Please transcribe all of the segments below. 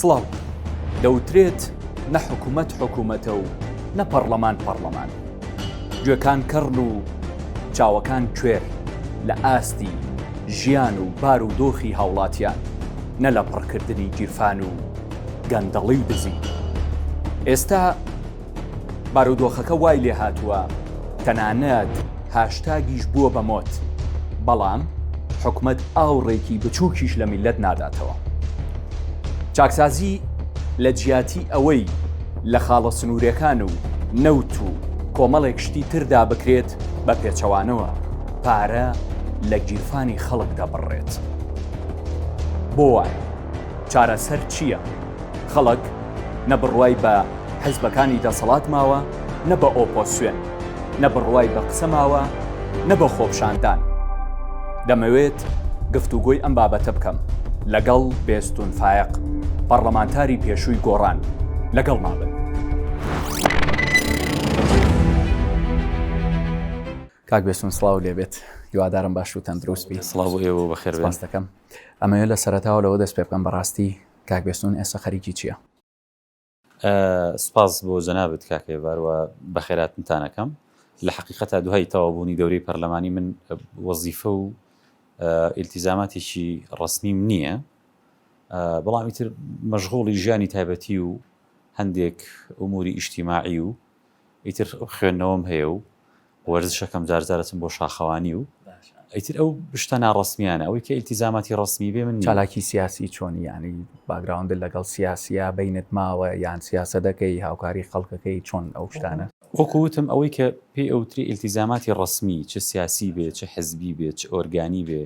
سڵاو دەوترێت نە حکوومەت حکوومەتە و نە پەرلەمان پەرلەمان گوێکان کەڕن و چاوەکان کوێر لە ئاستی ژیان و بار و دۆخی هاوڵاتیان نە لە پڕکردنی گیرفان و گەندەڵی و دزی. ئێستا بارودۆخەکە وای لێهاتووە تەنانەت هاشتاگیش بووە بە مۆد، بەڵام حکومەت ئاوڕێکی بچووکیش لە میللەت ناداتەوە. چاکسازی لە جیاتی ئەوەی لە خاڵە سنوورێکان و نەوت و کۆمەڵێک شتی تردا بکرێت بە پێچەوانەوە پارە لە گیرفانی خەڵک دەبڕێت. بۆ وایە؟ چارەسەر چییە؟ خەڵک نە بڕوای بە حزبەکانی دەسەڵات ماوە نە بە ئۆپۆسیۆن، نە بڕوای بە قسە ماوە نە بە خۆپشاندان. دەمەوێت گفتوگۆی ئەم بابەتە بکەم لەگەڵ بێستون فایەق، پەڕڵەمانتاری پێشووی گۆڕان. لەگەڵما بن. کاک بێستون سڵاو لێبێت، هیوادارم باش و تەندروست بیت. سڵاو بۆ ئێوە و بەخێربێن. سپاس دەکەم. ئەمەوێت لە سەرەتاوە لەوە دەست پێ بکەم بەڕاستی کاک بێستوون ئێستا خەریکی چیە؟ سپاس بۆ جەنابت کاک هێڤار و بەخێراتنتان ئەکەم. لە حەقیقەتا دوای تەواوبوونی دەورەی پەرلەمانی من وەزیفە و ئیلتیزاماتێکی ڕەسمیم نییە، بەڵام ئیتر مەشغوڵی ژیانی تایبەتی و هەندێک ئوموری ئیجتیماعی و ئیتر خوێندنەوەم هەیە و وەرزشەکەم جار جار ئەچم بۆ شاخەوانی و ئیتر ئەو شتە ناڕەسمیانە ئەوی کە ئیلتیزاماتی ڕەسمی بێ من چالاکی سیاسی چۆنی یانی باگراوندە لەگەڵ سیاسیا بینت ماوە یان سیاسە دەکەی هاوکاری خەڵکەکەی چۆن ئەو شتانە وەکو وتم ئەوەی کە پێی ئەوتری ئیلتیزاماتی ڕەسمی چ سیاسی بێ چ حزبی بێ چ ئۆرگانی بێ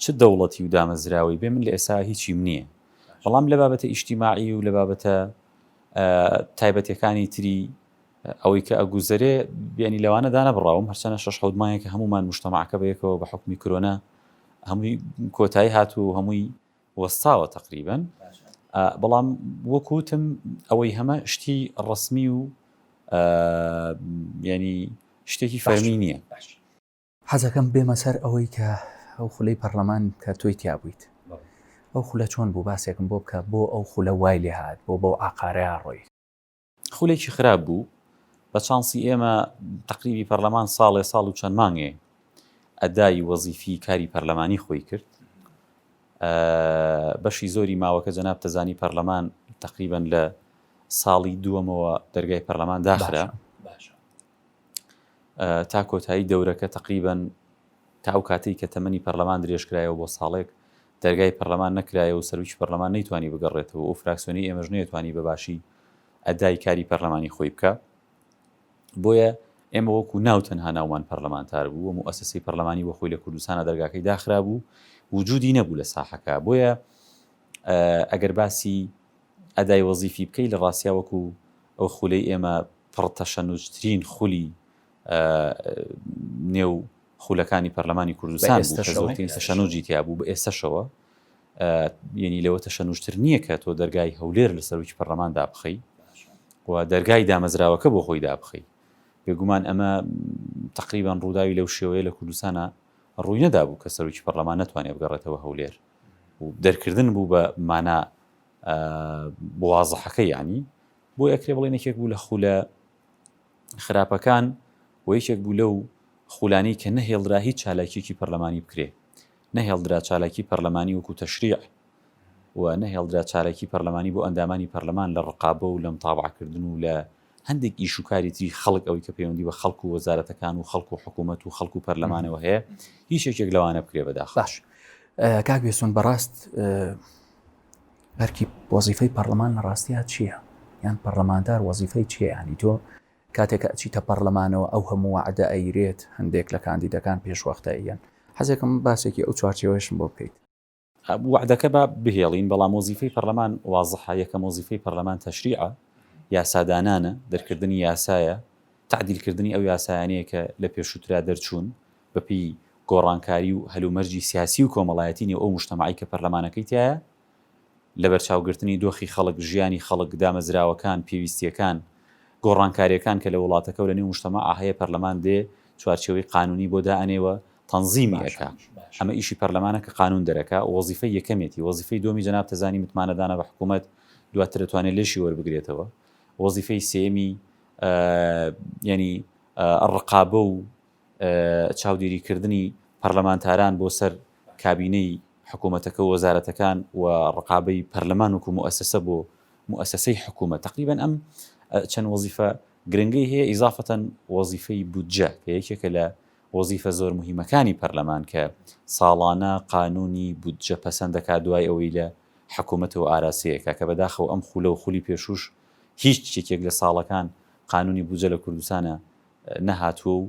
چ دەوڵەتی و دامەزراوەی بێ من لە ئێستا هیچیم نییە بەڵام لە بابەتە ئیشتیماعی و لە بابەتە تایبەتیەکانی تری ئەوەی کە ئەگوزەرێ بیانی لەوانە دانەبڕاوم هەرچەنە شش حەوت مایە کە هەمومان مشتەماعەکە بەیەکەوە بە حکومی کرۆنا هەمووی کۆتایی هات و هەمووی وەستاوە تقریبن بەڵام وەکوتم ئەوەی هەمە شتی ڕسمی و ینی شتێکی فەرمی نییە حەزەکەم بێمە سەر ئەوەی کە ئەو خولەی پەرلەمان کە تۆی تیا بوویت ئەو خولە چۆن بوو باسێکم بۆ بکە بۆ ئەو خولە وای لێ هات بۆ بەو ئاقارەیا ڕۆی. خولێکی خراپ بوو بە چانسی ئێمە تەقریبی پەرلەمان ساڵێ ساڵ و چەند مانگێ ئەدای وەزیفی کاری پەرلەمانی خۆی کرد بەشی زۆری ماوەکە جەناب تەزانی پەرلەمان تەقریبەن لە ساڵی دووەمەوە دەرگای پەرلەمان داخرا تا کۆتایی دەورەکە تەقریبەن تا ئەو کاتەی کە تەمەنی پەرلەمان درێژکرایەوە بۆ ساڵێک دەرگای پەرلەمان نەکرایە و سەرویی پەرلەمان نەیتوانی بگەڕێتەوە و فراکسیۆنی ئێمەش نەیەتوانی بەباشی ئەدای کاری پەرلەمانی خۆی بکە بۆیە ئێمە وەکو ناو تەنها ناومان پەرلەمانتار بوو و موسسی پەرلەمانی وەخۆی لە کوردستانە دەرگاکەی داخرابوو وجودی نەبوو لە ساحەکە بۆیە ئەگەر باسی ئەدای وەزیفی بکەی لە ڕاستیا وەکو ئەو خولەی ئێمە پڕ تەشەنوجترین خولی نێو خولەکانی پەرلەمانی کوردستان بوو کە زۆرترین تەشەنوجی تیا بوو بە ئێستەشەوە یەنی لەوە تەشەنوجتر نییە کە تۆ دەرگای هەولێر لە سەرۆکی پەرلەمان دابخەی و دەرگای دامەزراوەکە بۆ خۆی دابخەی بێگومان ئەمە تقریبان ڕووداوی لەو شێوەیە لە کوردستانە ڕووی نەدابوو کە سەرۆکی پەرلەمان نتوانێت بگەڕێتەوە هەولێر و دەرکردن بوو بە مانا وازحەکە یەعنی بۆ ئەکرێ بڵێن یەکێک بوو لە خولە خراپەکان و یەکێک بوو لەو خولانەی کە نەهێڵرا هیچ چالاکیەکی پەرلەمانی بکرێ نەهێڵدرا چالاکی پەرلەمانی وەکو تەشریع و نەهێڵدرا چالاکی پەرلەمانی بۆ ئەندامانی پەرلەمان لە ڕقابە و لە متابعەکردن و لە هەندێک ئیش و کاری تری خەڵک ئەوەی کە پەیوەندی بە خەڵک و وەزارەتەکان و خەڵک و حکوومەت و خەڵک و پەرلەمانەوە هەیە هیچ یەکێک لەوانە بکرێ بەداخ باش کاک بێسۆن بەڕاست بەرکی وەزیفەی پەرلەمان لە ڕاستیە چییە یان پەرلەماندار وەزیفەی چیانی تۆ کاتێک ئەچیتە پەرلەمانەوە ئەو هەموو عدا ئەیرێت هەندێک لە کاندیدەکان پێشوەختە یەن حەزێکم باسێکی ئەو چوارچەوەشم بۆ بکەیت وەعدەکە با بهێڵین، بەڵام وەزیفەی پەرلەمان وازحە، یەکەم وەزیفەی پەرلەمان تەشریعە، یاسادانانە، دەرکردنی یاسایە، تەعدیلکردنی ئەو یاسایانەیە کە لە پێشووترا دەرچوون، بەپێی گۆڕانکاری و هەلومەرجی سیاسی و کۆمەڵایەتی نێو ئەو موجتەمەعەی کە پەرلەمانەکەی تیایە، لەبەرچاوگرتنی دۆخی خەڵک، ژیانی خەڵک، دامەزراوەکان، پێویستییەکان، گۆڕانکارییەکان کە لە وڵاتەکە و لەنێو موجتەمەعا هەیە، پەرلەمان دێ چوارچێوەی قانوونی بۆ دائەنێ و تەنزیمی ئەکا ئەمە ئیشی پەرلەمانە کە قانون دەرەکا وەزیفەی یەکەمێتی وەزیفەی دووەمی جەناب تەزانی متمانە دانە بە حکومەت دواتر ئەتوانێ لێشی وەربگرێتەوە وەزیفەی سێمی یەنی ڕقابە و چاودێری کردنی پەرلەمانتاران بۆ سەر کابینەی حکوومەتەکە و وەزارەتەکان و ڕقابەی پەرلەمان وکو موسسە بۆ موسسەی حکوومەت تقریبن ئەم چەند وەزیفە گرنگی هەیە ئیزافەتەن وەزیفەی بودجە کە یەکێکە لە وەزیفە زۆر موهیمەکانی پەرلەمان کە ساڵانە قانوونی بودجە پەسەند دەکات دوای ئەوەی لە حکوومەتەوە ئاراستەی ئەکات کە بەداخەوە ئەم خوولە و خولی پێشووش هیچ یەکێک لە ساڵەکان قانوونی بودجە لە کوردستانە نەهاتووە و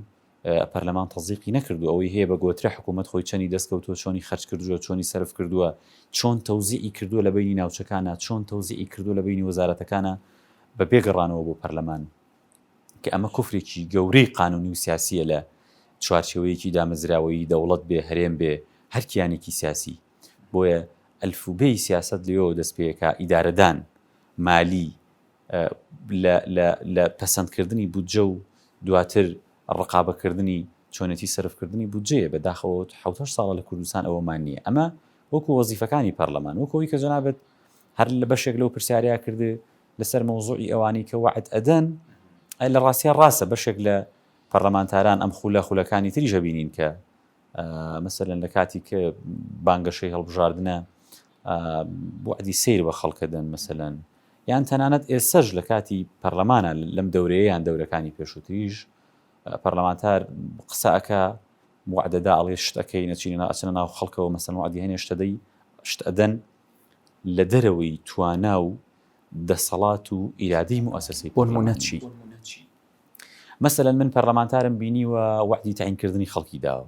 پەرلەمان تەزدیقی نەکردووە ئەوەی هەیە بە گۆترە حکوومەت خۆی چەنی دەست کەوتووە چۆنی خەرج کردووە چۆنی سەرف کردووە چۆن تەوزیعی کردووە لە بەینی ناوچەکانە چۆن تەوزیعی کردووە لە بەینی وەزارەتەکانە بە بێ گەڕانەوە بۆ پەرلەمان کە ئەمە کفرێکی گەورەی قانونی و سیاسیە لە چوارچێوەیەکی دامەزراوەیی دەوڵەت بێ هەرێم بێ هەر کیانێکی سیاسی بۆیە ئەلف و بێی سیاسەت لەوێوە دەست پێکا ئیدارەدان مالی لە لە لە پەسەند کردنی بودجە و دواتر ڕقابە کردنی چۆنێتی سەرف کردنی بودجەیە بە داخەوە حەوت هەشت ساڵە لە کوردستان ئەوەمان نیە ئەمە وەکو وەزیفەکانی پەرلەمان وەکۆی کە جەنابت هەر لە بەشێک لەو پرسیارەیا کردێ لەسەر مەوزوعی ئەوانەی کە وەعد ئەدەن، ئەی لە ڕاستیا ڕاستە بەشێک لە پەرلەمانتاران ئەم خولە خولەکانی تریش ئەبینین کە مەسەلەن لە کاتی کە بانگەشەی هەڵبژاردنە وەعدی سیر بە خەڵک ئەدەن مەسەلەن یان تەنانەت ئێسەش لە کاتی پەرلەمانە لەم دەورەیەیان دەورەکانی پێشووتریش پەرلەمانتار قسەکە وعدەدا ئەڵێ شتەکەی نەچینە ئەچنە ناو خەڵکەوە مەسەن وعدی هەنێ شتەدەی شت ئەدەن لە دەرەوەی توانا و دەسەڵات و ئیرادەی موئەسەسەی بۆ نموونە چی؟ مەسەلەن من پەرلەمانتارم بینیوە وەعدی تەعینکردنی خەڵکی داوە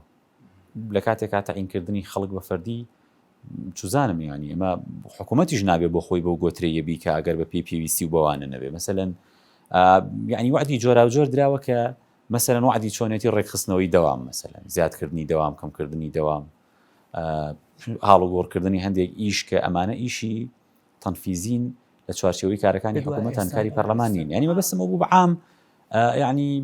لە کاتێکا تەعینکردنی خەڵک بە فەردی چزانم یانی ئەمە حکوومەتیش نابێ بۆ خۆی بەو گۆترەیە بیکە ئەگەر بە پێی پێویستی و بەوانە نەبێ مەسەلەن یعنی وعدی جۆراوجۆر دراوە کە مەسەرەن وعدی چۆنێتی ڕێکخستنەوەی دەوام مەسەلەن زیادکردنی دەوام کەمکردنی دەوام هاڵوگۆڕکردنی هەندێک ئیش کە ئەمانە ئیشی تەنفیزین لە چوارچەوەی کارەکانی حکوومەتان کاری پەرلەمانین ینی مەبەستمە بوو بەعام ینی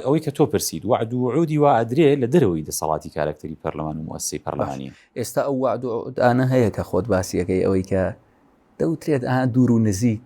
ئەوەی کە تۆ پرسید وعد و عودی وا ئەدرێ لە دەرەوەی دەسەڵاتی کارکتەری پەرلەمان و موسی پەرلەمانی ئێستا ئەو وعد و عودانە هەیە کە خۆت باسیەکەی ئەوەی کە دەوترێت ئا دوور و نزیک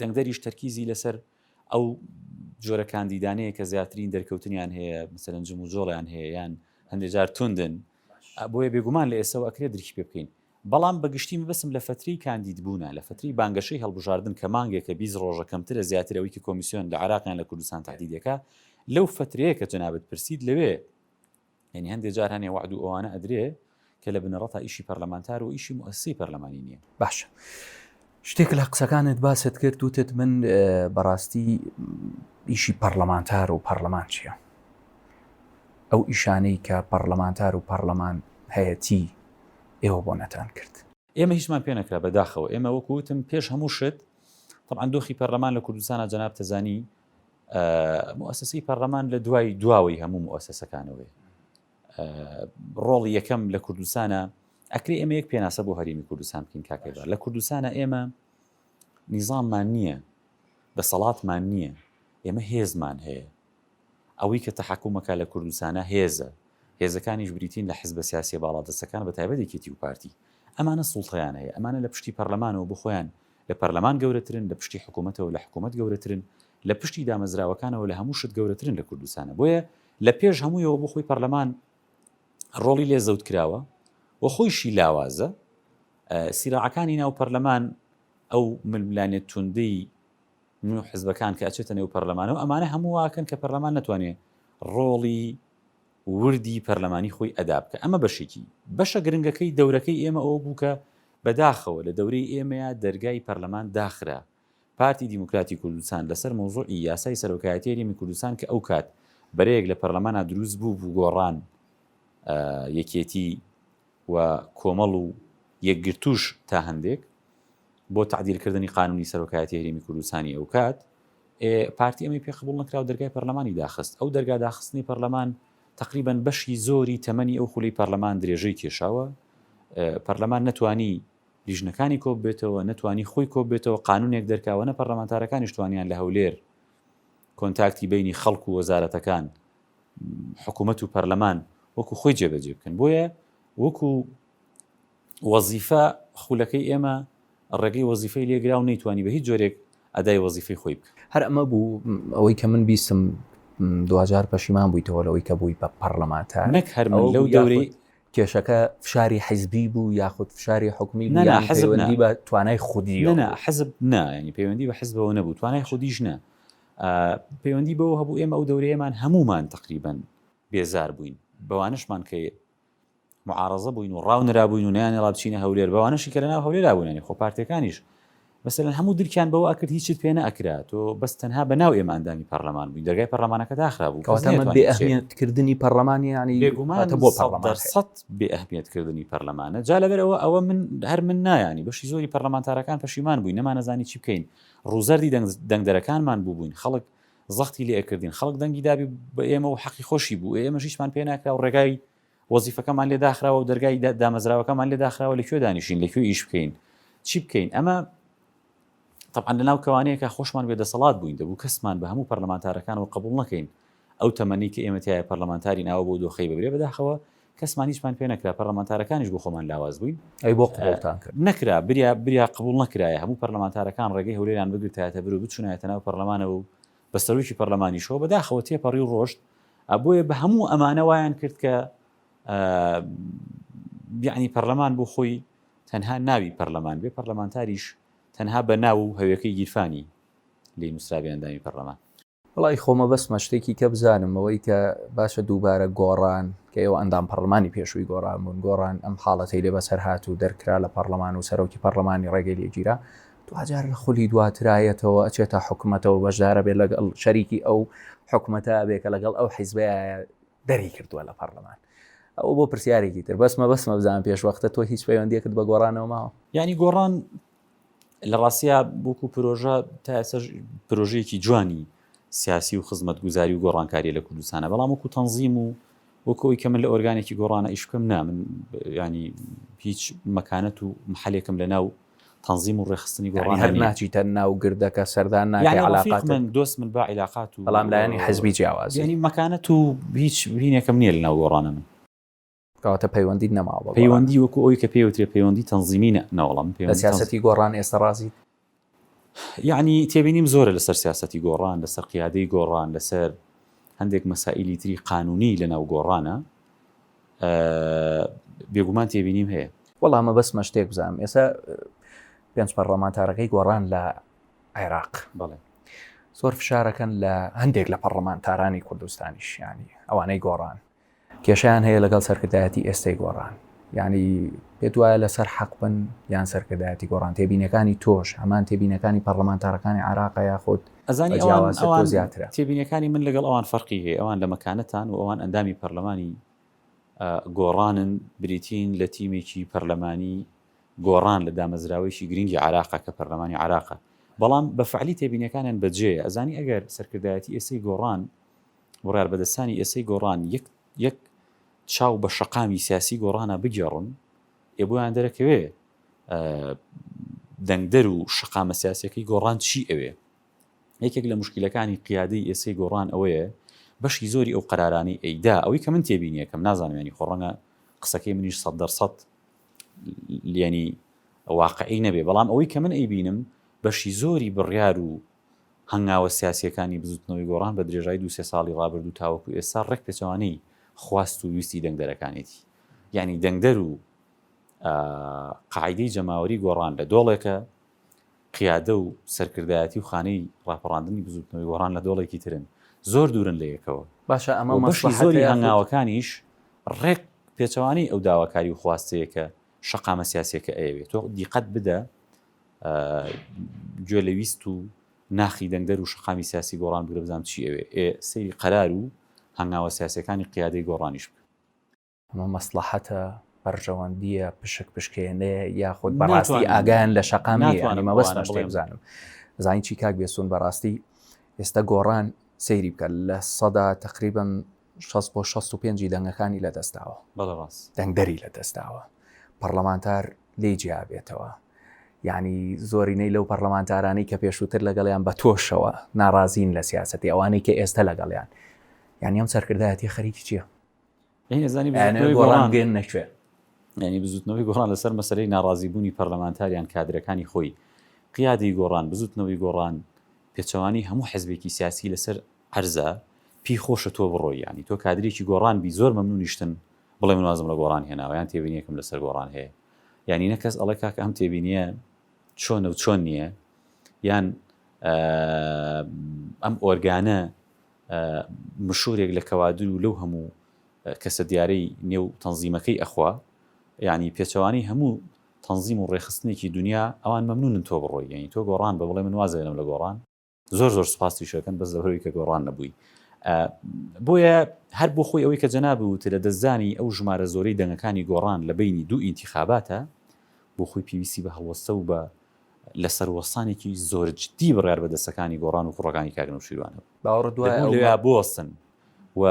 دەنگدەریش تەرکیزی لەسەر ئەو جۆرە کاندیدانەیە کە زیاترین دەرکەوتنیان هەیە مثلەن جم و جۆڵیان هەیە یان هەندێک جار توندن بۆیە بێگومان لە ئێسەوە ئەکرێ درکی پێ بکەین بەڵام بەگشتی مەبەستم لە فتری کاندید بوونە لە فتری بانگەشەی هەڵبژاردن کە مانگێکە بیز ڕۆژە کەمترە زیاتر ئەوی کە کۆمیسیۆن لە عراقیان لە کوردستان تهدیدەکە لەو فترەیە کە جەنابت پرسید لەوێ یانی هەندێ جار هەنێ وەعد و ئەوانە ئەدرێ کە لە بنەڕەتا ئیشی پەرلەمانتار و ئیشی موئەسسی پەرلەمانی نییە. باشە شتێک لە قسەکانت باست کرد وتت من بەڕاستی ئیشی پەرلەمانتار و پەرلەمان چییە؟ ئەو ئیشانەی کە پەرلەمانتار و پەرلەمان هەیەتی ئێوە بۆ نەتان کرد. ئێمە هیچمان پێ نەکرا بەداخەوە ئێمە وەکوتم پێش هەموو شت طبعا دۆخی پەرلەمان لە کوردستانە جەنابتەزانی موئەسەسەی پەڕلەمان لە دوای دواوەی هەموو موئەسەسەکانەوەی ڕۆڵی یەکەم لە کوردستانە ئەکری ئێمە یەک پێناسە بۆ هەرمی کوردستان بکەین کاکەدا لە کوردستانە ئێمە نیزانمان نییە دەسەڵاتمان نییە ئێمە هێزمان هەیە ئەوەی کە تەحکومەکە لە کوردستانە هێزە هێزەکانیش بریتین لە حزبە سیاسی باڵادەستەکان بە تایبەتێکێتی و پارتی ئەمانە سوڵتەیان هەیە ئەمانە لە پشتی پەرلەمانەوە بخۆیان لە پەرلەمان گەورەترن، لە پشتی حکومەتەوە لە حکومەت گەورەترن، لە پشتی دامەزراوەکانەوە لە هەموو شت گەورەترن لە کوردستانا بۆیە لە پێش هەموویەوە بۆ خۆی پەرلەمان ڕۆڵی لێ زەوت کراوە و خۆیشی لاوازە سیراعەکانی ناو پەرلەمان ئەو ململانێ توندەی نوێ حزبەکان کە ئەچێتە نێو پەرلەمانەوە ئەمانە هەموو واکەن کە پەرلەمان نتوانێت ڕۆڵی وردی پەرلەمانی خۆی ئەدا بکا ئەمە بەشێکی بەشە گرنگەکەی دەورەکەی ئێمە ئەوە بوو کە بە داخەوە لە دەورەی ئێمەیا دەرگای پەرلەمان داخرا پارتی دیموکراتی کوردستان لەسەر مەوزوعی یاسای سەرۆکایەتی هەرێمی کوردستان کە ئەو کات بەرەیەک لە پەرلەمانا دروست بوو بوو گۆڕان یەکێتی و کۆمەڵ و یەکگرتووش تا هەندێک بۆ تەعدیل کردنی قانوونی سەرۆکایەتی هەرێمی کوردستانی ئەوکات ئێ پارتی ئەمەی پێ قبوڵ نەکرا و دەرگای پەرلەمانی داخست ئەو دەرگا داخستنی پەرلەمان تەقریبەن بەشی زۆری تەمەنی ئەو خولی پەرلەمان درێژەی کێشاوە پەرلەمان نەتوانی لیژنەکانی کۆ بێتەوە نەتوانی خۆی کۆ بێتەوە قانونێک دەرکاوە نە پەرلەمانتارەکانیش توانیان لە هەولێر کۆنتاکتی بەینی خەڵک و وەزارەتەکان، حکومەت و پەرلەمان وەکو خۆی جێبەجێ بکەن. بۆیە وەکو وەزیفە خولەکەی ئێمە ڕێگەی وەزیفەی لێ گرا و نەیتوانی بە هیچ جۆرێک ئەدای وەزیفەی خۆی بکا. هەر ئەمە بوو ئەوەی کە من بیستم دواجار پەشیمان بوویتەوە لەوەی کە بووی بە پەڕلەمانتار؟ نەک هەر من لەو دەورەی. کێشەکە فشاری حیزبی بوو یاخود فشاری حکومی بوو یان پەیوەندی بە توانای خودییەوە بوو؟ نا نا حزب نا، یانی پەیوەندی بە حزبەوە نەبوو، توانای خودیش نا. پەیوەندی بەوە هەبوو ئێمە ئەو دەورەیەمان هەموومان تەقریبەن بێزار بووین بەوانەشمان کە معارەزە بووین و ڕاو نرابووین و نیانی ڕابچینە هەولێر بەوانەشی کە لەناو هەولێرا بوونانی خۆ پارتەکانیش مثلەن هەموو درکیان بەوە ئەکرد هیچت پێ نەکرا تۆ بەس تەنها بە ناو ئێمە ئەندامی پەرلەمان بووین دەرگای پەرلەمانەکە داخرا بوو بێئەهمیەتکردنی پەرلەمانی ینی بێگومانە بۆ پەرلەمان سەد بێئەهمیەتکردنی پەرلەمانە جا لەبەرەوە ئەوە من هەر من نایانی بەشی زۆری پەرلەمانتارەکان پەشیمان بووین نەمانەزانی چی بکەین ڕووزەردی دەنگدەرەکانمان بووبووین، خەڵک زەختی لێ ئەکردین، خەڵک دەنگی دابوو بە ئێمە و حەقی خۆشی بوو، ئێمەش هیچمان پێ ناکرا و ڕێگای وەزیفەکەمان لێ داخراوە و دەرگای دامەزراوەکەمان لێ داخراوە لە کوێ دانیشین، لە کوێ ئیش بکەین، چی بکەین؟ ئەمە تەبعەن لەناو کەوانەیەکا خۆشمان بێ دەسەڵات بووین، دەبوو کەسمان بە هەموو پەرلەمانتارەکانەوە قبوڵ نەکەین، ئەو تەمەنەی کە ئێمە تیایا پەرلەمانتارین ئاوا بەو دۆخەی ببرێ، بەداخەوە کەسمان هیچمان پێ نەکرا پەرلەمانتارەکانیش بۆ خۆمان لاواز بووین. ئەی بۆ قبوڵتان کرد؟ نەکرا بریا بریا قبوڵ نەکرایە هەموو پەرلەمانتارەکان ڕێگەی هەولێریان بگرتایەتە بەر و بچونایەتە ناو پەرلەمانەوە و بە سەرۆکی پەرلەمانیشەوە بەداخەوە تێپەڕی و ڕۆشت بۆیە بە هەموو ئەمانە وایان کرد کە یعنی پەرلەمان بۆ خۆی تەنها ناوی پەرلەمان بێ پەرلەمانتاریش تەنها بە ناو و هەوێکەی گیرفانی لی نووسرابیاندامی پەرلەمان وەڵا ی خۆمە بەسمە شتێکی کە بزانم ئەوەی کە باشە دووبارە گۆڕان کە ئێوە ئەندام پەڕلمانی پێشووی گۆڕان بوون گۆڕان ئەم حاڵەتەی لێ بەسەر هات و دەرکرا لە پەڕلەمان و سەرۆکی پەڕلەمانی ڕێگەی لێ گیرا دواجار لە خولی دواترایەتەوە ئەچێتە حکومەتەوە بەشدارە بێت لەگەڵ شەریکی ئەو حکومەتە بێ کە لەگەڵ ئەو حیزبەیە دەری کردووە لە پەڕلەمان ئەو بۆ پرسیارێکی تر بەسمە بەسمە بزان پێش وەختە تۆ هیچ پەیوەندیەکت بە گۆڕانەوە ماوە یانی گۆڕان لە ڕاستە بووک و پرۆژە تا ئێسش پرۆژەیەکی جوانی سیاسی و خزمەت گوزاری و گۆڕانکاری لە کوردستانە بەڵام وکو تەنزیم و وەکەوەی کە من لە ئۆرگانێکی گۆڕانە ئیش بکەم نا من ینی هیچ مەکانەت و محلێکم لە ناو تەنزیم و ڕێخستنی گۆڕان هەر ناچیتە ناو گردەکە سەردان ناکەڵاقات من دۆست من بە عیلاقات و بەڵام لایەنی حزبی جیاواز ینی مەکانەت و هیچ وینێکم نییە لە ناو گۆڕانە من کەواتە پەیوەندیت نەماوە بە گۆڕان؟ پەیوەندی وەکو ئەوەی کە پێی وترێ پەیوەندی تەنزیمی نە، نەوەڵام. لە سیاسەتی گۆڕان ئێستا ڕازیت؟ یەعنی تێبینیم زۆرە لەسەر سیاسەتی گۆڕان، لەسەر قیادەی گۆڕان، لەسەر هەندێک مەسائیلی تری قانوونیی لەناو گۆڕانە بێگومان تێبینیم هەیە. وەڵا مەبەستمە شتێک بزانم، ئێستا پێنج پەڕڵەمانتارەکەی گۆڕان لە عێراق بەڵێ زۆر فشارەکەن لە هەندێک لە پەڕڵەمانتارانی کوردستانیش یانی ئەوانەی گۆڕان، کێشەیان هەیە لەگەڵ سەرکردایەتی ئێستای گۆڕان یعنی پێت وایە لەسەر حەق بن یان سەرکردایەتی گۆڕان تێبینەکانی تۆش هەمان تێبینەکانی پەرلەمانتارەکانی عراق یاخود ئەزانی ئەوان زیاترە تێبینەکانی من لەگەڵ ئەوان فەرقی هەیە ئەوان لە مەکانەتان و ئەوان ئەندامی پەرلەمانی گۆڕانن بریتین لە تیمێکی پەرلەمانی گۆڕان لە دامەزراوەیەکی گرنگی عراقە کە پەرلەمانی عراقە بەڵام بە فعلی تێبینەکانیان بەجێ ئەزانی ئەگەر سەرکردایەتی ئێسەی گۆڕان بڕیاربەدەستانی ئێستەی گۆڕان یەک یەک چاو بە شەقامی سیاسی گۆڕانا بگێڕن، ئێ بۆیان دەرەکەوێ دەنگدەر و شەقامە سیاسەکەی گۆڕان چی ئەوێ؟ یەکێک لە مشکلەکانی قیادەی ئێسەی گۆڕان ئەوەیە بەشی زۆری ئەو قەرارانی ئەیدا ئەوەی کە من تێبینیەکەم نازانمێنی خۆڕەنگە قسەکەی منیش سەد دەرسەد لێنی واقعی نەبێ بەڵام ئەوەی کە من ئەیبینم بەشی زۆری بڕیار و هەنگاوە سیاسییەکانی بزووتنەوەی گۆڕان بە درێژایی دوو سێ ساڵی ڕابردوو تاوەکو ئێستا ڕێک پێچەوانەی خواست و ویستی دەنگدەرەکانێتی. یانی دەنگدەر و قاعیدەی جەماوەری گۆڕان لە دۆڵێکە، قیادە و سەرکردایەتی و خانەی ڕاپەڕاندنی بزووتنەوەی گۆڕان لە دۆڵێکی ترن. زۆر دوورن لە یەکەوە. و بەشی زۆری هەنگاوەکانیش ڕێک پێچەوانەی ئەو داواکاری و خواستەیە کە شەقامە سیاسییەکە ئەیەوێ. تۆ دیقەت بدە گوێ لە ویست و ناخی دەنگدەر و شەقامی سیاسی گۆڕان بگرە بزانم چی ئەوێ، ئێ سەیری قەرار و هەنگاوە سیاسییەکانی قیادەی گۆڕانیش بکە. ئەمە مەسڵەحەتە، بەرژەوەندییە، پشک پشکێنەیە یاخود بەڕاستی ئاگایان لە شەقام نییە؟ ناتوانم ئەوە بەس شتێک بزانم. زانیی چی کاک بێستوون بەڕاستی ئێستا گۆڕان سەیری بکە لە سەدا تەقریبەن، شەست بۆ شەست و پێنج ی دەنگەکانی لەدەستداوە. بەڵێ ڕاست. دەنگدەری لەدەستداوە. پەڕڵەمانتار لێی جیابێتەوە. یانی زۆرینەی لەو پەڕڵەمانتارانەی کە پێشووتر لەگەڵیان بە تۆشەوە ناڕازین لە سیاسەتی ئەوانەی کە ئێستە لەگەڵیان. یانی ئەم سەرکردایەتیە خەریکی چیە؟ یانی ئێزانی بزوتنەوەی گۆڕان دێننە کوێ؟ یانی بزوتنەوەی گۆڕان لەسەر مەسەلەی ناڕازی بوونی پەڕلەمانتار یان کادرەکانی خۆی، قیادەی گۆڕان، بزوتنەوەی گۆڕان، پێچەوانەی هەموو حزبێکی سیاسی لەسەر عەرزە پی خۆشە تۆ بڕۆی یانی تۆ کادرێکی گۆڕان بی زۆر مەمنونیشتن بڵێ من وازم لە گۆڕان هێناوە یان تێبینیەکم لەسەر گۆڕان هەیە یانی نە کەس ئەڵێ کاکە ئەم تێبینیە چۆنە و چۆن نییە یان ئەم ئۆرگانە مشورێک لە کەوادر و لەو هەموو کەسە دیارەی نێو تەنزیمەکەی ئەخوا یعنی پێچەوانی هەموو تەنزیم و ڕێخستنێکی دنیا ئەوان مەمنونن تۆ بڕۆی یعنی تۆ گۆڕان بە بڵێ من وازێنم لە گۆڕان زۆر زۆر سپاستی شەکەن بەس لەبەرەوەی کە گۆڕان نەبووی بۆیە هەر بۆ خۆی ئەوەی کە جەناب وتە لە دەستدانی ئەو ژمارە زۆرەی دەنگەکانی گۆڕان لە بینی دوو ئینتیخاباتە بۆ خۆی پێویستی بە هەڵوەستە و بە لە سەروەستانێکی زۆرجددی بڕار بە دەستەکانی گۆڕان و کوڕەکانی کاگن و شیروانە باوەڕ دوای بۆستن و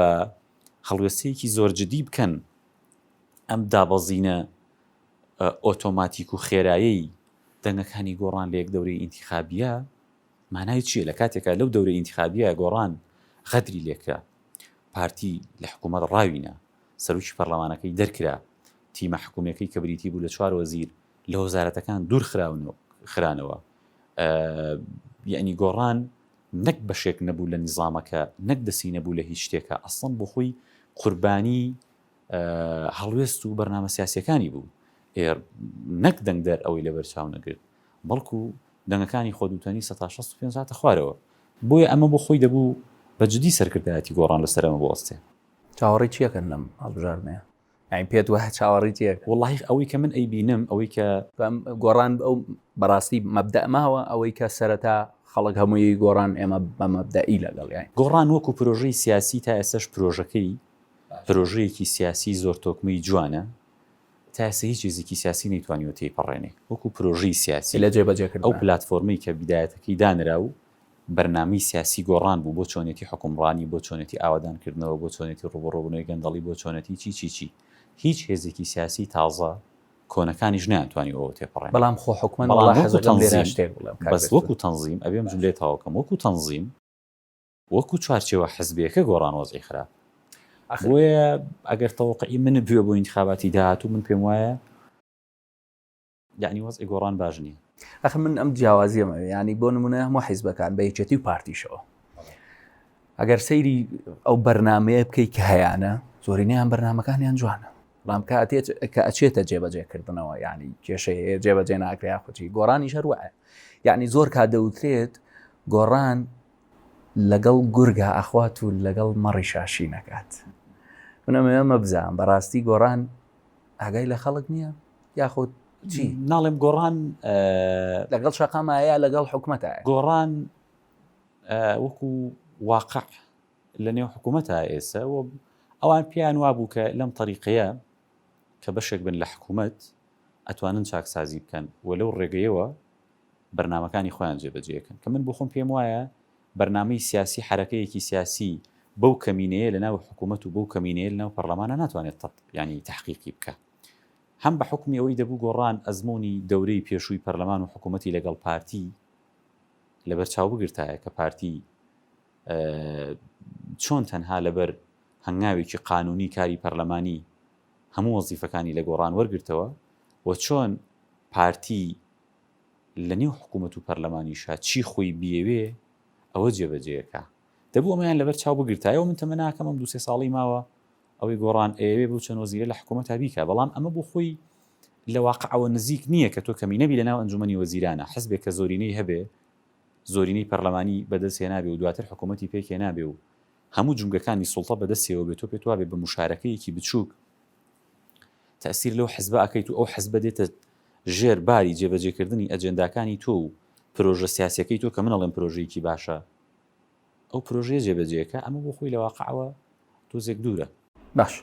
هەڵوێستەیەکی زۆرجددی بکەن ئەم دابەزینە ئۆتۆماتیک و خێرایی دەنگەکانی گۆڕان لە یەک دەوری ئینتیخابیە مانای چیە لەکاتێکا لەو دەورە ئینتیخابیە گۆڕان غەدری لێکرا پارتی لە حکومەت ڕاوینا سەرۆکی پەرلەمانەکەی دەرکرا تیمە حکومیەکەی کە بریتی بوو لە چوار وەزیر لە وەزارەتەکان دوور خراونەوە خرانەوە یعنی گۆڕان نەک بەشێک نەبوو لە نیزامەکە نەک دەسی نەبوو لە هیچ شتێکە ئەسڵم بۆ خۆی قوربانی هەڵوێست و بەرنامە سیاسەکانی بوو نەک دەنگدەر ئەوەی لەبەرچاو نەگرت بەڵکو دەنگەکانی خۆدووتەنی سەتا شەست و پێنج هاتە خوارەوە، بۆیە ئەمە بۆ خۆی دەبوو بە جدی سەرکردایەتی گۆڕان لەسەر ئەمە بوەستێ. چاوەڕێی چی ئەکەن لەم هەڵبژاردنەیە؟ یانی پێت وایە چاوەڕێی چی ئەکەن؟ وەڵاهی ئەوەی کە من ئەیبینم ئەوەی کە. گۆڕان ئەو بەڕاستی مەبدەئ ماوە، ئەوەی کە سەرەتا خەڵک هەمووی گۆڕان ئێمە بە مەبدەئی لەگەڵیاین. گۆڕان وەکو پرۆژەی سیاسی تا ئێستاش پرۆژەکەی پرۆژەیەکی سیاسی زۆر تۆکمەی جوانە، تا ئێستا هیچ هێزێکی سیاسی نەیتوانیوە تێیپەڕێنێ وەکو پرۆژەی سیاسی. لە جێبەجێکردندا. ئەو پلاتفۆرمەی کە بیدایەتەکەی دانرا و بەرنامەی سیاسی گۆڕان بوو بۆ چۆنێتی حوکمڕانی، بۆ چۆنێتی ئاوەدانکردنەوە، بۆ چۆنێتی ڕووبەڕووبوونەوەی گەندەڵی، بۆ چۆنێتی چی چی چی. هیچ هێزێکی سیاسی تازە، کۆنەکانیش نەیانتوانی ئەوە تێپەڕێنن. بەڵام خۆ حوکمەت وەڵا حەزەکەم لێرە شتێک بڵێم کاک بەرزوو. بەس وەکو تەنزیم، ئەبێم جوملەی تەواو بکەم، وەکو تەنزیم، وەکو چوارچێوە حزبیەکە گۆڕان وەزعی خراپ بۆیە ئەگەر تەوەقعی منت بوێ بۆ ئینتخاباتی داهاتوو من پێم وایە یعنی وەزعی گۆڕان باش نییە ئەخ من ئەم جیاوازیەمە ینی بۆ نمونە هەموو حیزبەکان بە یەکێتی و پارتیشەوە ئەگەر سەیری ئەو بەرنمەیە بکەیت کە هەیەە زۆرینیان بەرنمەکانیان جوانە بەڵام کاتێت کە ئەچێتە جێبەجێکردنەوە ینی کێشەیە جێبەجێ ناکرێ یاخوچی گۆڕانی شەروە یعنی زۆر کا دەوترێت گۆڕان لەگەڵ گورگا ئەخوات و لەگەڵ مەڕیش ئاشی نەکات من ئەمەوێ مەبزام بەڕاستی گۆڕان ئاگای لە خەڵک نیە یاخود چی؟ ناڵێم گۆڕان لەگەڵ شەقامە یا لەگەڵ حکومەتە گۆڕان وەکو واقع لە نێو حکوومەتە ئێسە و ئەوان پێیان وابوو کە لەم تەریقەیە کە بەشێک بن لە حکوومەت ئەتوانن چاکسازی بکەن و لەو ڕێگەیەوە بەرنامەکانی خۆیان جێبەجێکەن کە من بۆ خۆم پێم وایە بەرنامەی سیاسی حەرەکەیەکی سیاسی بەو کەمینەیە لە ناو حکوومەت و بەو کەمینەیە لە ناو پەڕلەمانە ناتوانێت تەت یانی تەحقیقی بکا هەم بە حکومی ئەوەی دەبوو گۆڕان ئەزمموی دەورەی پێشووی پەرلەمان و حکوومەتی لەگەڵ پارتی لەبەر چاو بگرتایە کە پارتی چۆن تەنها لەبەر هەنگاوێکی قانونی کاری پەرلەمانی هەموو وەزیفەکانی لە گۆڕان وەرگتەوە و چۆن پارتی لە نێو حکوومەت و پەرلەمانیشا چی خۆی بیەوێ ئەوە جێبەجێ ئەکا. دەبوو ئەمەیان لەبەر چاو بگرتایەوە، من تەمە ناکەم ئەم دوو سێ ساڵەی ماوە ئەوەی گۆڕان ئەیەوێ بەو چەند وەزیرە لە حکوومەتا بیکا، بەڵام ئەمە بۆ خۆی لە واقعەوە نزیک نییە کە تۆ کەمینە بی لە ناو ئەنجوومەنی وەزیرانە، حزبێک کە زۆرینەی هەبێ، زۆرینەی پەرلەمانی بە دەست هێنابێ و دواتر حکوومەتی پێک هێنابێ و هەموو جومگەکانی سوڵتە بە دەستیەوە بێ، تۆ پێت وابێ بە موشارەکەیەکی بچووک، تەئسیر لەو حزبە ئەکەیت و ئەو حزبە دێتە ژێر باری جێبەجێکردنی ئەجێنداکانی تۆ و پرۆژە سیاسیەکەی تۆ کە من ئەڵێم پرۆژەیەکی باشە ئەو پرۆژەیە جێبەجێکە ئەمە بۆ خۆی لە واقعەوە تۆزێک دوورە باش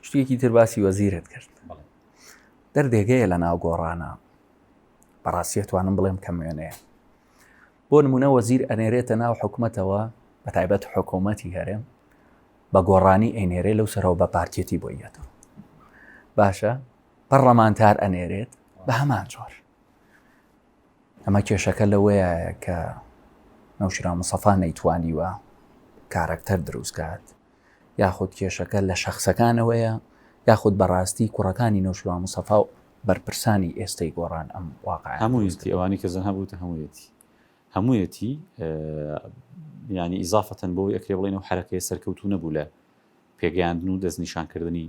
شتێکی تر باسی وەزیرت کرد دەردێگەیە لە ناو گۆڕانە بەڕاستیە توانم بڵێم کەم وێنەیە بۆ نمونە وەزیر ئەنێرێتە ناو حکومەتەوە بە تایبەت حکوومەتی هەرێم بە گۆڕانی ئەینێرێ لەو سەرەوە بە پارتیەتی بۆ یەتەوە باشە پەڕەمانتار ئەنێرێت بە هەمان جۆر ئەمە کێشەکە لەوەیە کە نەوشرا مسەفا نەیتوانیوە کارەکتەر دروستکات یاخود کێشەکە لە شەخسەکانەوەیە یاخود بەڕاستی کوڕەکانی نەوشیروان مستەفا و بەرپرسانی ئێستەی گۆڕان ئەم واقعەیان دروست کردوە؟ هەموویەتی، ئەوانەی کە زەنها بوتە هەموویەتی. هەموویەتی یانی ئیزافەتەن بەوەی ئەکرێ بڵێین ئەو حەرەکەیە سەرکەوتوو نەبوو لە پێگەیاندن و دەستنیشانکردنی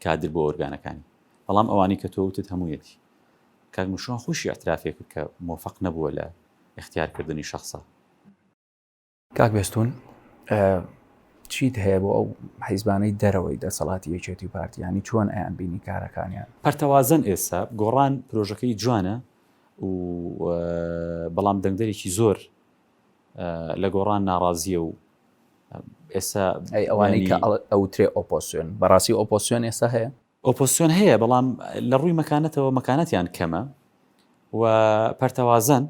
کادر بۆ ئۆرگانەکانی. بەڵام ئەوانەی کە تۆ وتت هەموویەتی. کاک نوشیروان خۆیشی ئیعترافی کرد کە مۆفەق نەبووە لە ئیختیارکردنی شەخسە. کاک بێستون چیت هەیە بۆ ئەو حیزبانەی دەرەوەی دەسەڵاتی یەکێتی و پارتیانی چۆن ئەیان بینی کارەکانیان پەرتەوازن ئێستا گۆڕان پرۆژەکەی جوانە و بەڵام دەنگدەرێکی زۆر لە گۆڕان ناڕازیە و ئێستا ئەوانەی کە ئەوترێ ئۆپۆسیۆن بەڕاستی ئۆپۆسیۆن ئێستا هەیە ئۆپۆزسیۆن هەیە بەڵام لە ڕووی مەکانەتەوە مەکانەتیان کەمە و پەرتەوازەن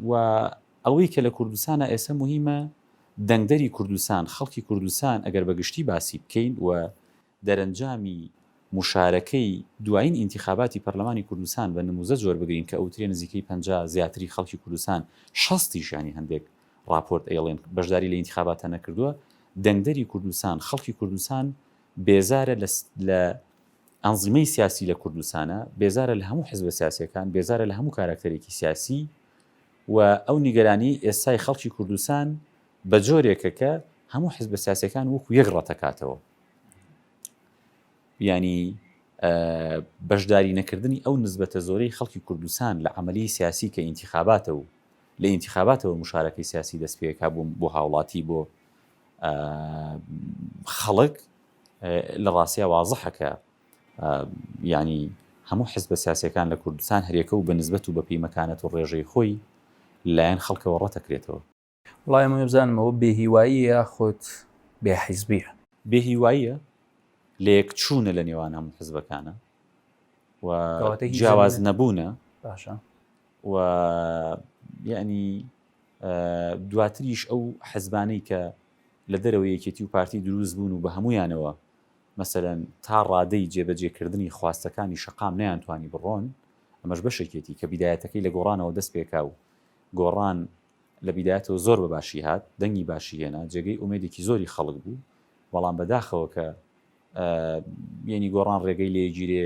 و ئەوەی کە لە کوردستانە ئێستا مهمە دەنگدەری کوردستان خەڵکی کوردستان ئەگەر بەگشتی باسی بکەین و دەرەنجامی مشارەکەی دوایین ئینتخاباتی پەرلەمانی کوردستان بە نموزە جۆر بگرین کە ئەوترێ نزیکەی پ زیاتری خەڵکی کوردستان شەستیشانی هەندێک ڕاپۆرت ئەیڵێن بەشداری لە ئینتیخاباتە نەکردووە دەنگدەری کوردستان خەڵکی کوردستان بێزارە لە ئەنزیمەی سیاسی لە کوردستانە بێزارە لە هەموو حزبە سیاسەکان بێزارە لە هەموو کاراکتەرێکی سیاسی و ئەو نیگەرانی ئێستای خەڵکی کوردستان بە جۆرێکە کە هەموو حزبە سیاسەکان وەکو یەک ڕەتەکاتەوە ینی بەشداری نەکردنی ئەو نسبەتە زۆرەی خەڵکی کوردستان لە عملی سیاسی کە ئینتیخاباتە و لە ئینتیخاباتەوە مشارەکەی سیاسی دەست پێکا بووم بۆ هاوڵاتی بۆ خەڵک لە ڕاستیا وازحە کە یعنی هەموو حزبە سیاسەکان لە کوردستان هەرێکە و بە نسبەت و بە پیمەکانەت و ڕێژەی خۆی لایەن خەڵکەوە ڕەتەکرێتەوە. وەڵای ئەمەی بزانم ئەوە بێ هیوایی یاخود بێ حیزبیە؟ بێ هیواییە لەیەک چوونە لە نێوان هەموو حزبەکانە و جیاواز نەبوونە. باشە. و یەعنی دواتریش ئەو حزبانەی کە لە دەرەوەی یەکێتی و پارتی دروست بوون و بە هەموویانەوە مەسەلەن تا ڕادەی جێبەجێ کردنی خواستەکانی شەقام نەیانتوانی بڕۆن ئەمەش بەشێکێتی کە بیدایەتەکەی لە گۆڕانەوە دەست پێکا و گۆڕان لە بیدایەتەوە زۆر بە باشی هات دەنگی باشی هێنا جێگەی ئومێدێکی زۆری خەڵک بوو بەڵام بەداخەوە کە یەنی گۆڕان ڕێگەی لێگیرێ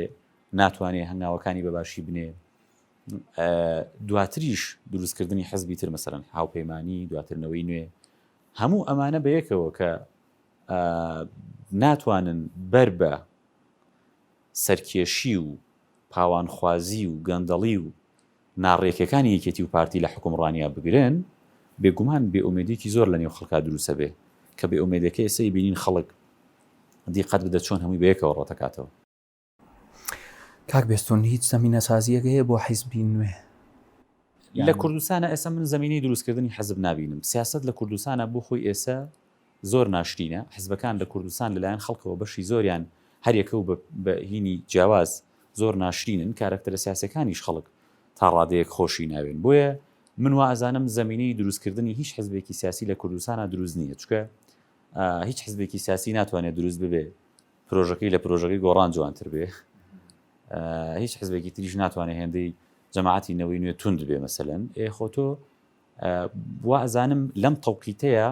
ناتوانێ هەنگاوەکانی بە باشی بنێ دواتریش دروستکردنی حزبی تر مەسەلەن هاوپەیمانی دواتر نەوەی نوێ هەموو ئەمانە بەیەکەوە کە ناتوانن بەر بە سەرکێشی و پاوانخوازی و گەندەڵی و ناڕێکەکانی یەکێتی و پارتی لە حکومڕانیا بگرن بێگومان بێ ئومێدێکی زۆر لە نێو خەڵکا دروسە بێ کە بێ ئومێدەکە ئێسەی بینین خەڵک دیقەت بدە چۆن هەمووی بەیەکەوە ڕەتەکاتەوە کاک بێستون هیچ زەمینە سازیەک هەیە بۆ حیزبی نوێ؟ لە کوردستانا ئێستا من زەمینەی دروست کردنی حزب نابینم سیاسەت لە کوردستانا بۆ خۆی ئێسە زۆر ناشرینە حزبەکان لە کوردستان لە لایەن خەڵکەوە بەشی زۆریان هەر یەکەو بە بە هینی جیاواز زۆر ناشرینن کارەکتەرە سیاسەکانیش خەڵک تا ڕادەیەک خۆشی ناوێن بۆیە من وا ئەزانم زەمینەی دروست کردنی هیچ حزبێکی سیاسی لە کوردستانا دروست نییە چکە هیچ حزبێکی سیاسی ناتوانێت دروست ببێ پرۆژەکەی لە پرۆژەکەی گۆڕان جوانتر بێ هیچ حزبێکی تریش ناتوانێت هێندەی جەماعتی نەوەی نوێ تونند بێ مەسەن ئێ خۆ تۆ وازانم لەم تەوقیتەیە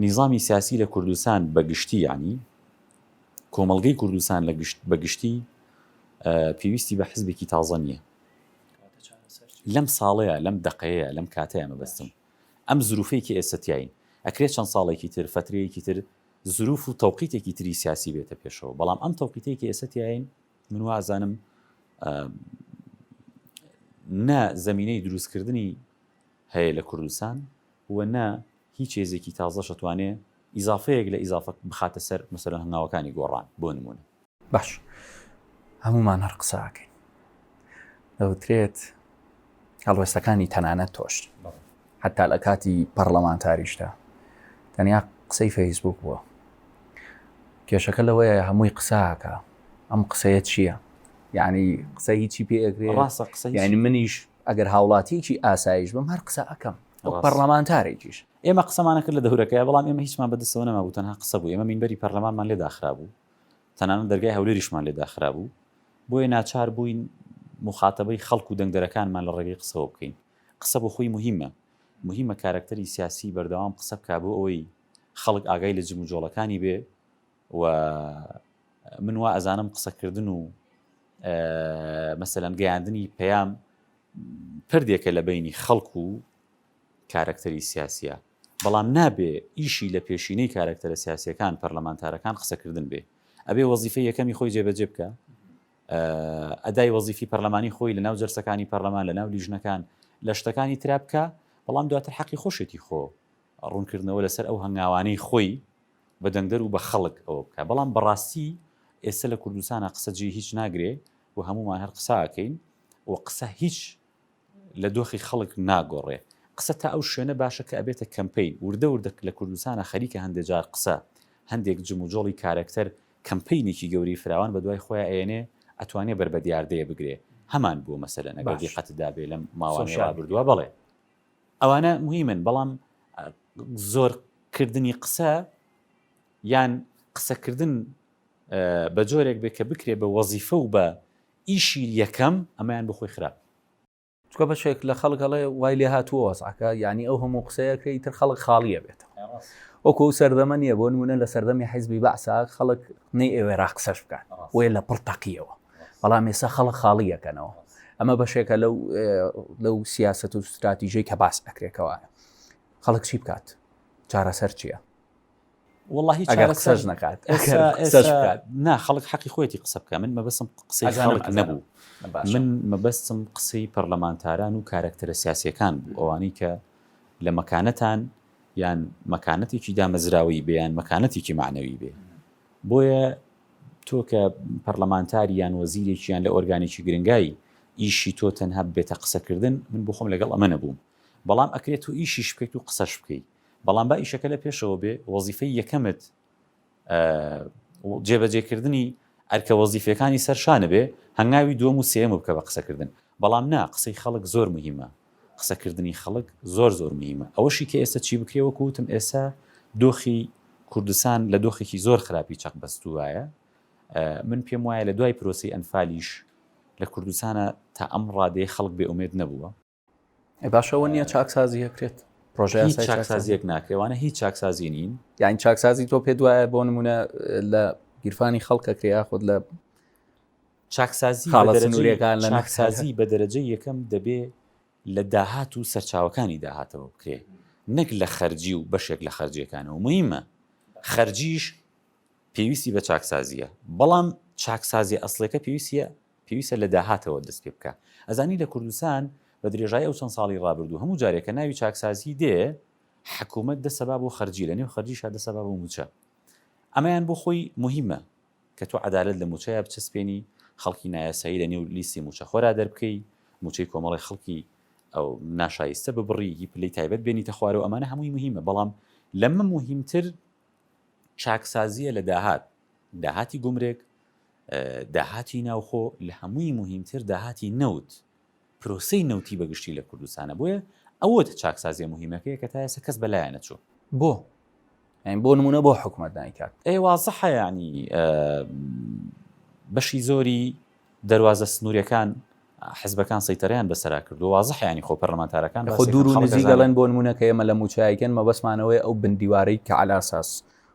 نیزامی سیاسی لە کوردستان بەگشتی ینی کۆمەلگەی کوردستان لە گشت بەگشتی پێویستی بە حزبێکی تازە نییە لەم ساڵەیە لەم دقەیە لەم کاتەیە مەبەستم ئەم زروفەی کە ئێستا تیاین ئەکرێ چەند ساڵێکی تر فەترەیەکی تر زروف و تەوقیتێکی تری سیاسی بێتە پێشەوە بەڵام ئەم تەوقیتەی کە ئێستا تیاین من وازانم نە زمینەی دروستکردنی هەیە لە کوردستان و نە هیچ هێزێکی تازە شتوانێ ئیزافەیەک لە ئیزافە بخاتە سەر مەسەرە هەنگاوەکانی گۆڕان بۆ نمونە باش هەمومان هەر قساکەین دەوترێت هەڵوێستەکانی تەنانەت تۆش حتا لە کاتی پەرلەمانتاریشدا تەنیا قسەی فەیسبوک بووە کێشەکە لەوەیە هەمووی قساکە ئەم قسەیە چییە یعنی قسە هیچی پێگرێ ڕاستە قسە ینی منیش ئەگەر هاوڵاتیکی ئاسایش بم هەر قسە ئەەکەم پەرلەمانتارێکیش ئێمە قسەمانە کرد لە دەورەکەی بەڵام ئێمە هیچمان بەدەستەوە نەمابوو تەنها قسە بوو ئێمە مینبەری پەرلەمانمان لێ داخرابوو تەنانەت دەرگای هەولێریشمان لێ داخرابوو، بۆیە ناچار بووین موخاتەبەی خەڵک و دەنگدەرەکانمان لە ڕێگەی قسەوە بکەین. قسە بۆ خۆی موهیمە، موهیمە کارەکتەری سیاسی بەردەوام قسە بکا بۆ ئەوەی خەڵک ئاگای لە جموجۆڵەکانی بێ و من وا ئەزانم قسە کردن و مەسەلەن گەیاندنی پەیام پردێکە لە بەینی خەڵک و کارەکتەری سیاسیە بەڵام نابێ ئیشی لە پێشینەی کارەکتەرە سیاسیەکان پەرلەمانتارەکان قسەکردن بێ ئەبێ وەزیفەی یەکەمی خۆی جێبەجێ بکا ئەدای وەزیفی پەرلەمانی خۆی لەناو جەرسەکانی پەرلەمان لەناو لیژنەکان لە شتەکانی ترا بکە بەڵام دواتر حەقی خۆشێتی خۆ ڕوونکردنەوە لەسەر ئەو هەنگاوانەی خۆی بە دەنگدەر و بە خەڵک ئەوە بکە بەڵام بەڕاستی ئێستا لە کوردستانە قسە جێ هیچ ناگرێ و هەمومان هەر قساکەین و قسە هیچ لە دۆخی خەڵک ناگۆڕێ. قسە تا ئەو شوێنە باشە کە ئەبێتە کەمپەین. وردە وردە لە کوردستانا خەریکە هەندێ جار قسە، هەندێک جموجۆڵی کارەکتەر کەمپەینێکی گەورەی فراوان بە دوای خۆیا ئەیەنێ، ئەتوانێ بەر بە دیاردەیە بگرێ. هەمان بووە مەسەلەن ئەگەر باش. دیقەتت دابێ لەم ماوانەی سۆشیال میدیا. ڕابردووە بەڵێ ئەوانە موهیمن بەڵام زۆر کردنی قسە یان قسە کردن بە جۆرێک بێ کە بکرێ بە وەزیفە و بە ئیشی یەکەم ئەمەیان بۆ خۆی خراپ کردوە. چونکە بەشێک لە خەڵک ئەڵێ وای لێ هاتووە وەزعەکە یانی ئەو هەموو قسەیە کە ئیتر خەڵک خاڵی ئەبێتەوە وەکو ئەو سەردەمە نیە بۆ نمونە لە سەردەمی حیزبی بەعسا خەڵک نەیئەوێرا قسەش بکات بۆیە لە پڕ تەقیەوە بەڵام ئێستا خەڵک خاڵی ئەکەنەوە ئەمە بەشێکە لەو لەو سیاسەت و ستراتیژەی کە باس ئەکرێ کەوایە خەڵک چی بکات چارەسەر چیە؟ وڵی قسەش نکات نا خەڵک حەقی خۆێتی قسە بکە من مەبەسم قسە خەڵک نەبوو من مەبەستم قسەی پەرلەمانتاران و کارەکتەرە سیاسەکان بوو ئەوانەی کە لە مەکانەتان یان مەکانەتێکی دامەزراوی بێیان مەکانەتێکی معنەوی بێ بۆیە تۆ کە پەرلەمانتاری یان وەزیرێکیان لە ئۆرگانێکی گرنگایی ئیشی تۆ تەنها بێتە قسەکردن من بخۆم لەگەڵ ئەمە نەبووم بەڵام ئەکرێت و ئیشیش بکەیت و قسەش بکەیت بەڵام با ئیشەکە لە پێشەوە بێ، وەزیفەی یەکەمت جێبەجێکردنی ئەرکە وەزیفیەکانی سەر شانە بێ، هەنگاوی دووەم و سێیەم بکە بە قسەکردن. بەڵام نا، قسەی خەڵک زۆر موهیمە، قسەکردنی خەڵک زۆر زۆر موهیمە. ئەوەشی کە ئێستا چی بکرێ، وەکو وتم ئێستا دۆخی کوردستان لە دۆخێکی زۆر خراپی چەق بەستووایە، من پێم وایە لە دوای پرۆسەی ئەنفالیش لە کوردستانا تا ئەم ڕادەیە خەڵک بێ ئومێد نەبووە، باشەوە نییە چاکسازی هەکرێت پرۆژیان چاکسازیەک ناکەوانە هیچ چاکسازی نین یان چاکسازی تۆ پێ دوایە بۆ نمونە لە گیرفانی خەڵکەکە یاخود لە چاکسازی حاڵەتەکان لە ناکسازی بە دەرەجە یەکەم دەبێ لە داهات و سەرچاوەکانی داهاتەوە بکرێ نەک لە خەرجی و بەشێک لە خەرجیەکانەوە مهمە خەرجیش پێویستی بە چاکسازیە بەڵام چاکسازی ئەسلەکە پێویستە پێویستە لە داهاتەوە دەست پێ بکا. ئەزانی لە کوردستان بە درێژایی ئەو چەند ساڵی ڕابردوو هەموو جارێ کە ناوی چاکسازی دێ حکوومەت دەست ئەبا بۆ خەرجی لە نێو خەرجیشا دەست ئەبا بۆ مووچە. ئەمەیان بۆ خۆی موهیمە کە تۆ عەدالەت لە مووچەیا بچەسپێنی، خەڵکی نایاسایی لە نێو لیستی مووچەخۆرا دەربکەی، مووچەی کۆمەڵێ خەڵکی ناشایستە ببڕی، هی پلەی تایبەت بێنیتە خوارەوە ئەمانە هەمووی موهیمە بەڵام لەمە موهیمتر چاکسازییە لە داهات، داهاتی گومرگ، داهاتی ناوخۆ لە هەمووی موهیمتر داهاتی نەوت پرۆسەی نەوتی بە گشتی لە کوردستانە بۆیە ئەوە چاکسازیە موهیمەکەیە کە تا ئێستا کەس بە لایە نەچوو. بۆ؟ یانی بۆ نمونە بۆ حکومەت نایکات؟ ئێ وازحە یانی بەشی زۆری دەروازە سنوریەکان حزبەکان سەیتەرەیان بەسەرا کردوە وازحە یانی خۆ پەرلەمانتارەکان خۆ دوور و نزیک دەڵێن بۆ نمونە کە ئێمە لە موچایەکەن مەبەسمانەوەی ئەو بندیوارەی کە عەلاساس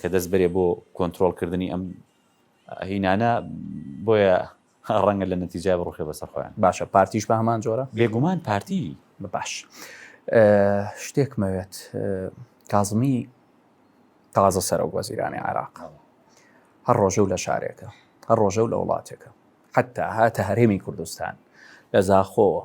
کە دەست بەرێ بۆ کۆنترۆڵ کردنی ئەم هینانە بۆیە ڕەنگە لە نەتیجای بڕوخێ بەسەر خۆیان باشە پارتیش بە هەمان جۆرە بێگومان پارتی بە باش شتێکمەوێت کازمی تازە سەرۆک وەزیرانی عێراق هەر ڕۆژە و لە شارێکە هەر ڕۆژە و لە وڵاتێکە حتا هاتە هەرێمی کوردستان لە زاخۆوە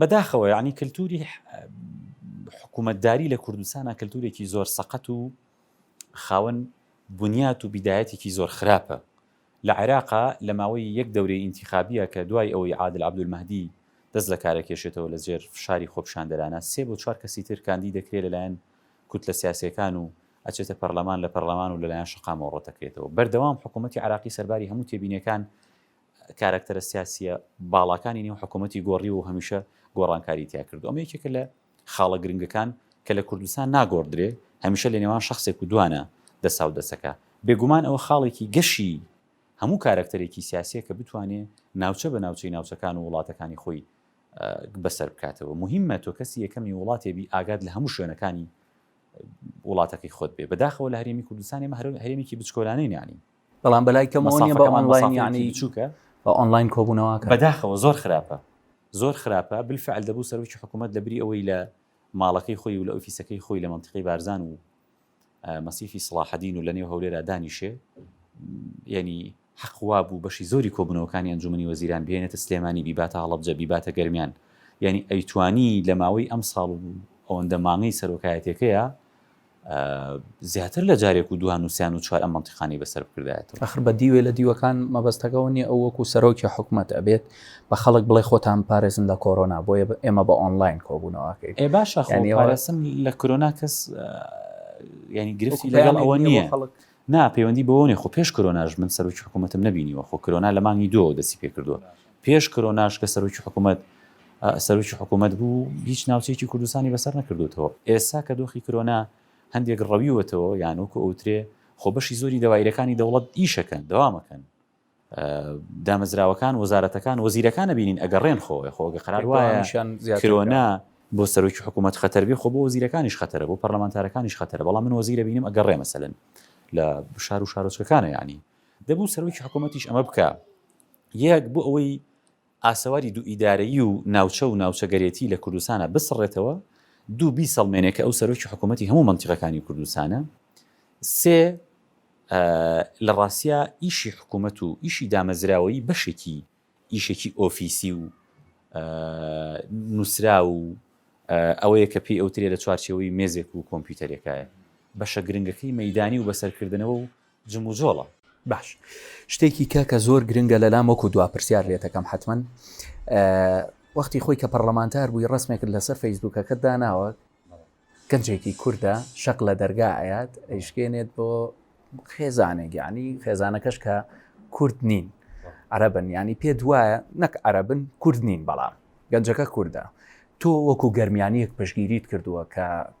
بەداخەوە یعنی کللتوری حکوومەتداری لە کوردستانە کللتورێکی زۆر سەقەت و خاوەن بنیات و بیدایەتێکی زۆر خراپە لە عێراقا لە ماوەی یەک دەورەی ئینتیخابیە کە دوای ئەوەی عادل عبدولمەدی دەست لە کارەکێشێتەوە لە جێر فشاری خۆپشاندەرانە سێ بۆ چوار کەسی تر کاندی دەکرێت لەلایەن کوت لە سیاسەکان و ئەچێتە پەرلەمان لە پەرلەمان و لەلایەن شقامەوە ڕۆتەکرێتەوە بەردەوام حکوومەتتی عراقی سەرباری هەموو تێبینەکان کارەکتەرە سیاسییە باڵاکانی نێو حکوومەتی گۆڕیوە و هەمیشە گۆڕانکاریی تیا کردووە. ئەمە یەکێکە لە خاڵە گرنگەکان کە لە کوردستان ناگۆڕدرێ، هەمیشە لە نێوان شەخسێک و دوانە دەسا و دەسەکە. بێگومان ئەوە خاڵێکی گەشی هەموو کارەکتەرێکی سیاسییە کە بتوانێ ناوچە بە ناوچەی ناوچەکان و وڵاتەکانی خۆی بەسەر بکاتەوە. موهیمە تۆ کەسی یەکەمی وڵاتێ بی ئاگات لە هەموو شوێنەکانی وڵاتەکەی خۆت بێ. بەداخەوە لە هەرێمی کوردستان ئێمە هەرێمێکی بچکۆلانەی نانین. بەڵام بەلای کەمەوە نیە بە ئۆنڵاین یانی بچوکە بە ئۆنڵاین کۆبوونەوەکە بەداخەوە زۆر خراپە زۆر خراپە بالفعل دەبوو سەرۆکی حکوومەت لە بری ئەوەی لە ماڵەکەی خۆی و لە ئۆفیسەکەی خۆی لە منتقی بارزان و مەسیفی سڵاحدین و لە نێو هەولێرا دانیشێ ینی حەقوا بوو بەشی زۆری کۆبنەوەکانی ئەنجومی وەزیران بێنێتە سلێمانی بیباتە هەڵبجە بیباتە گەرمیان ینی ئەیتوانی لە ماوەی ئەم ساڵ ئەوەندە مانگی سەرۆکایەتەکەیە زیاتر لە جارێک و دوان نووسیان و چوار ئەم منتیقانی بەسەر بکردایەتەوە ئەخر بە دیوێ لە دیوەکان مەبەستەکەەوە نیە ئەو وەکو سەرۆکی حکوومەت ئەبێت بە خەڵک بڵێ خۆتان پارێزن لە کۆرۆنا بۆیە ئێمە بە ئۆنلاین کۆبوونەوەکەی ئێ باشە خۆنیوارەسم لە کرۆنا کەس ینی گرفتی لەگەڵ ئەوە نییە خەڵک نا پەیوەندی بەوە نیە خۆ پێش کرۆناش من سەرۆکی حکومەتم نەبینیوە خۆ کرۆنا لە مانگی دوەوە دەستی پێکردوە پێش کرۆناش کە سەرۆکی حکومەت سەرۆکی حکومەت بوو هیچ ناوچەیەکی کوردستانی بەسەر نەکردوتەوە ئێسا کە دۆخی کرۆنا هەندێک ڕەویوەتەوە یان وەکو ئەوترێ خۆ بەشی زۆری دەوایرەکانی دەوڵەت ئیشەکەن دەوامەکەن دامەزراوەکان وەزارەتەکان وەزیرەکان ئەبینین ئەگەڕێن خۆ خۆ گە قەرار وایەشان کرۆنا بۆ سەرۆکی حکوومەت خەتەربی خۆ بۆ وەزیرەکانیش خەتەرە بۆ پەرلەمانتارەکانیش خەتەرە بەڵام من وەزیرە بینم ئەگەڕێ مەسەن لە شار و شارۆچکەکانە ینی دەبوو سەرۆکی حکوومەتیش ئەمە بکە یەک بۆ ئەوەی ئاسەواری دوو ئیدارەیی و ناوچە و ناوچەگەرێتی لە کوردستانا بسڕێتەوە، دوو بیسەڵمێنێ کە ئەو سەرۆکی حکوومەتی هەموو مەنتیقەکانی کوردستانە، سێ لە ڕاستیا ئیشی حکوومەت و ئیشی دامەزراوەیی بەشێکی ئیشێکی ئۆفیسی و نووسراو و ئەوەیە کە پێی ئەوترێ لە چوارچێوەی مێزێک و کۆمپیوتەرێکایە، بەشە گرنگەکەی مەیدانی و بەسەرکردنەوە و جموجۆڵە. باش شتێکی کە کە زۆر گرنگە لەلام وەکو دوا پرسیار لێتەکەم حەتمەن وەختی خۆی کە پەرلەمانتار بووی ڕسمێکت لەسەر فەیسبووکەکەت داناوە گەنجێکی کووردە شەق لە دەرگا ئايات ئەیشکێنێت بۆ خێزانێک یعنی خێزانەکەش کە کورد نین عربن ینی پێ دوایە نەک عربن کورد نین بەڵام گەنجەکە کووردە تۆ وەکو گەرمیانیەک پشگیریت کردووە کە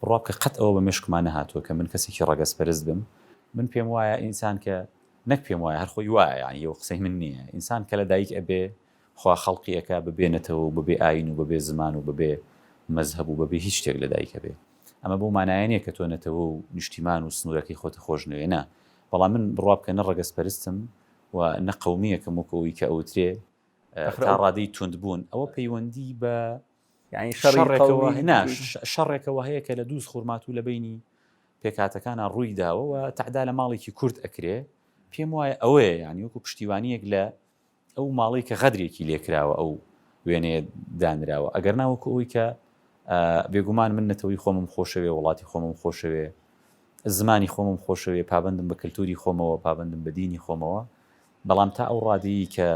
بڕوا بکە قەت ئەوە بە مێشکما نەهاتووە کە من کەسێکی ڕەگەزپەرست بم. من پێم وایە ئینسان کە، نەک پێم وایە هەر خۆی وایە یانی ئەوە قسەی من نییە، ئینسان کە لە دایک ئەبێ خوا خەڵقی ئەکا بە بێ نەتەوە و بە بێ ئایین و بە بێ زمان و بە بێ مەزهەب و بە بێ هیچ شتێک لە دایک ئەبێ. ئەمە بەو مانایە نییە کە تۆ نەتەوە و نیشتیمان و سنوورەکەی خۆتە خۆش نەوێ نا. بەڵام من بڕوا بکە نە ڕەگەزپەرستم و نە قەومییەکم وەکوو ئەوەی کە ئەوترێ تا ڕادەی تووندبوون ئەوە پەیوەندی بە یعنی شەڕێکەوە نا شەڕێکەوە هەیە کە لە دووز خورمات و لە بینی پێکاتەکانە ڕووی داوە و تعدا لە ماڵێکی کورد ئەکرێ پێم وایە ئەوەیە ینی وەکو پشتیوانیەک لە ئەو ماڵی کە غەدرێکی لێکراوە ئەو وێنێ دانراوە ئەگەر ناوەکو ئەوی کە بێگومان من نەتەوەی خۆمم خۆشەوێ وڵاتی خۆمم خۆشەوێ زمانی خۆمم خۆشەوێ پابندم بە کللتوری خۆمەوە پابندم بە دینی خۆمەوە بەڵام تا ئەو ڕادەیە کە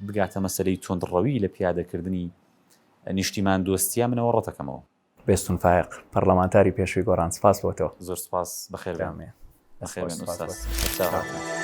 بگاتە مەسلەی تونندڕەوی لە پیادەکردنی نیشتیمان دۆستیە منەوە ڕەتەکەمەوە. بێستون فایەق پەڕلەمانتاری پێشوی گۆڕان سپاس بۆ تۆ. زۆر سپاس بەخێربێن بەخێربێن ئوستاز سەرچاوەکان.